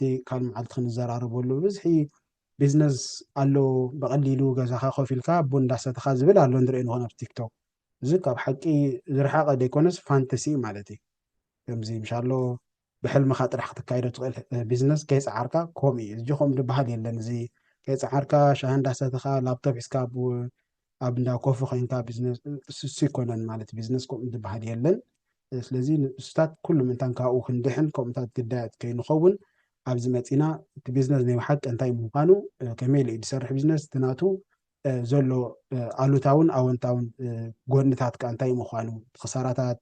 መዓልቲ ካብ መዓልቲ ክንዘራረበሉ ብብዝሒ ቢዝነስ ኣሎ ብቐሊሉ ገዛኻ ኮፍ ኢልካ ቡን እንዳሰተኻ ዝብል ኣሎ ንሪኦ ንኾን ኣብ ቲክቶክ እዚ ካብ ሓቂ ዝረሓቐ ዘይኮነስ ፋንተሲ እዩ ማለት እዩ ከምዚ ምሻሎ ብሕልምኻ ጥራሕ ክትካይዶ ትኽእል ቢዝነስ ከይፀዓርካ ከምኡ እዩ እዚ ከምኡ ዝበሃል የለን እዚ ከይፀዓርካ ሻሂ እንዳሰተኻ ላፕቶፕ ሒዝካ ኣብ እንዳ ኮፊ ኮይንካ ቢዝነስ እሱ ኣይኮነን ማለት ቢዝነስ ከምኡ ዝበሃል የለን ስለዚ ንእሱታት ኩሉ ምንታን ካብኡ ክንድሕን ከምኡታት ግዳያት ከይንኸውን ኣብዚ መፂና እቲ ቢዝነስ ናይ ሓቂ እንታይ ምዃኑ ከመይ ኢሉ እዩ ዝሰርሕ ቢዝነስ እቲ ናቱ ዘሎ ኣሉታውን ኣወንታውን ጎድንታት ከዓ እንታይ ምዃኑ ክሳራታት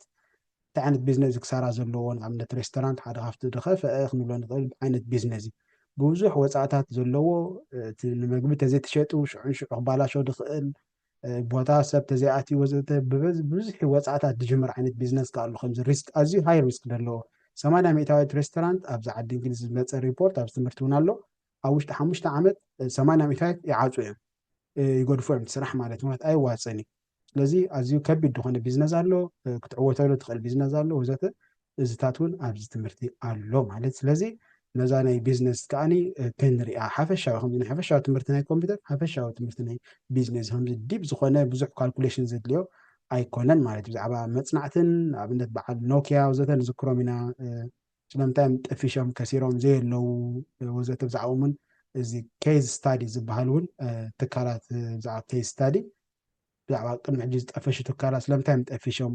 እንታይ ዓይነት ቢዝነስ እዩ ክሳራ ዘለዎ? ንኣብነት ሬስቶራንት ሓደ ካብቲ ዝኸፈኣ ክንብሎ ንኽእል ዓይነት ቢዝነስ እዩ። ብብዙሕ ወጻእታት ዘለዎ እቲ ንመግቢ ተዘይተሸጡ ሽዑ ንሽዑ ክባላሾ ዝኽእል ቦታ ሰብ ተዘይኣትዩ ወዘተ ብብዙሕ ወጻእታት ዝጅምር ዓይነት ቢዝነስ ከኣሉ ከምዚ ሪስክ ኣዝዩ ሃይ ሪስክ ዘለዎ ሰማንያ ሚእታዊት ሬስቶራንት ኣብዚ ዓዲ እንግሊዝ ዝመፀ ሪፖርት ኣብዚ ትምህርቲ እውን ኣሎ ኣብ ውሽጢ ሓሙሽተ ዓመት ሰማንያ ሚእታዊት ይዓፁ እዮም ይገድፉ እዮም ስራሕ ማለት ምክንያት ኣይዋፅን እዩ ስለዚ ኣዝዩ ከቢድ ዝኾነ ቢዝነስ ኣሎ፣ ክትዕወተሉ ትኽእል ቢዝነስ ኣሎ ወዘተ እዚታት እውን ኣብዚ ትምህርቲ ኣሎ ማለት ስለዚ ነዛ ናይ ቢዝነስ ከዓኒ ክንሪኣ ሓፈሻዊ ከምዚ ናይ ሓፈሻዊ ትምህርቲ ናይ ኮምፒውተር ሓፈሻዊ ትምህርቲ ናይ ቢዝነስ ከምዚ ዲብ ዝኾነ ብዙሕ ካልኩሌሽን ዘድልዮ ኣይኮነን ማለት እዩ ብዛዕባ መፅናዕትን ንኣብነት በዓል ኖኪያ ወዘተ ንዝክሮም ኢና ስለምንታይ እዮም ጠፊሾም ከሲሮም ዘየለዉ ወዘተ ብዛዕባኦም እውን እዚ ኬዝ ስታዲ ዝበሃል እውን ትካላት ብዛዕባ ኬዝ ስታዲ ብዛዕባ ቅድሚ ሕጂ ዝጠፈሹ ትካላት ስለምንታይም ጠፊሾም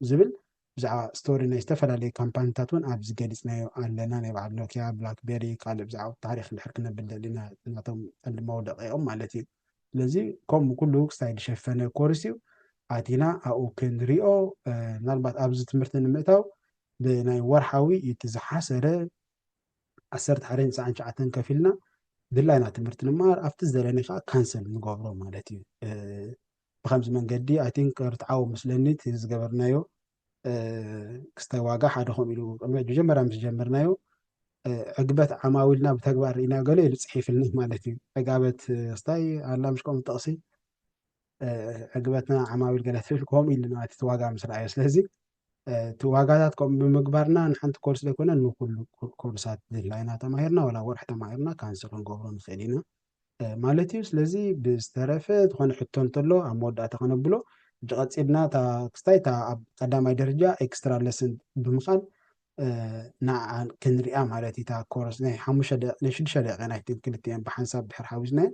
ዝብል ብዛዕባ ስቶሪ ናይ ዝተፈላለዩ ካምፓኒታት እውን ኣብዚ ገሊፅናዮ ኣለና ናይ በዓል ኖኪያ ብላክቤሪ ካልእ ብዛዕባ ታሪክ እንድሕር ክነብል ደሊና ናቶም ቀንዲ መውደቂኦም ማለት እዩ ስለዚ ከምኡ ኩሉ ክሳይ ዝሸፈነ ኮርስ እዩ ኣቲና ኣብኡ ክንሪኦ ምናልባት ኣብዚ ትምህርቲ ንምእታው ብናይ ወርሓዊ እቲ ዝሓሰረ ዓሰርተ ሓደን ትስዓን ትሽዓተን ከፊልና ድላይና ትምህርቲ ንመሃር ኣብቲ ዝደለኒ ከዓ ካንሰል ንገብሮ ማለት እዩ ብከምዚ መንገዲ ኣይ ቲንክ ርትዓዊ ምስለኒ እቲ ዝገበርናዮ ክስታይ ዋጋ ሓደ ከምኡ ኢሉ መጀመርያ ምስ ጀመርናዮ ዕግበት ዓማዊልና ብተግባር ርኢና ገለ ኢሉ ፅሒፍልና ማለት እዩ ዕጋበት ክስታይ ኣላ ምሽ ከምኡ ጠቕሲ ዕግበትና ዓማዊል ገለ ፍልፍል ከምኡ ኢሉ ማለት እቲ ዋጋ ምስ ረኣዮ ስለዚ እቲ ዋጋታት ከምኡ ብምግባርና ንሓንቲ ኮርስ ዘይኮነ ንኩሉ ኮርሳት ድላይና ተማሂርና ወላ ወርሒ ተማሂርና ካንስል ክንገብሮ ንኽእል ኢና ማለት እዩ ስለዚ ብዝተረፈ ዝኾነ ሕቶ እንተሎ ኣብ መወዳእታ ከነብሎ ሕጂ ቀፂልና እታ ክስታይ እታ ኣብ ቀዳማይ ደረጃ ኤክስትራ ለስን ብምኻን ንዓ ክንሪኣ ማለት እዩ እታ ኮርስ ናይ ሓሙሽተ ናይ ሽዱሽተ ደቂቃ ናይ ክልቲኤን ብሓንሳብ ድሕር ሓዊስናየን